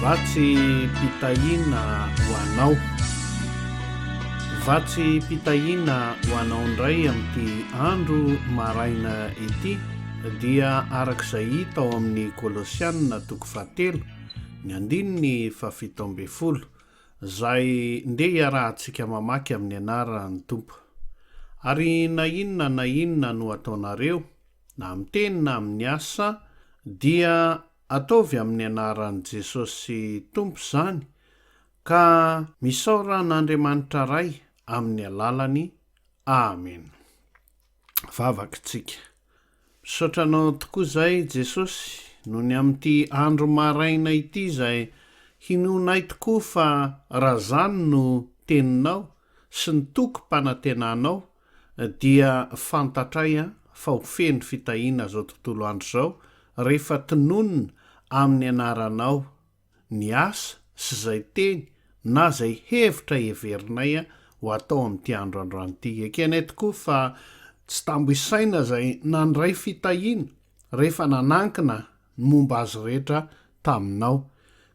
Vatsy mpitahiana ho anao. Vatsy mpitahiana ho anao indray amin'ity andro maraina ity dia araka izay hita ao amin'ny Kolosianina toko fahatelo ny andininy fahafito ambin'ny folo izay ndeha hiarahantsika mamaky amin'ny anaran'ny Tompo. Ary na inona na inona no ataonareo na amin'ny teny na amin'ny asa, dia ataovy amin'ny anaran'i Jesosy Tompo izany, ka misaora an'Andriamanitra Ray amin'ny alalany. Amen. Vavak'tsika. Misaotra Anao tokoa izay Jesosy noho ny amin'ity andro maraina ity izay hinoanay tokoa fa raha izany no Teninao sy ny tokim-panantenanao dia fantatray fa ho feno fitahiana zao tontolo andro izao rehefa tononina amin'ny anaranao ny asa sy zay teny na zay hevitra heverinay ho atao amin'ity andro androany ity. Ekenay tokoa fa tsy tambo isaina zay nandray fitahiana rehefa nanankina ny momba azy rehetra taminao.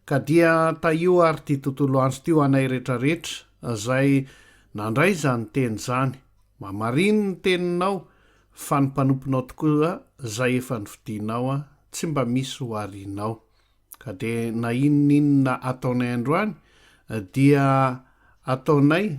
Ka dia tahio ary ity tontolo andro ity ho anay rehetra rehetra izay nandray izany teny izany. Mamarino ny teninao fa ny mpanomponao tokoa izay efa nifidinao tsy mba misy ho arianao. Ka dia na inona inona ataonay androany dia ataonay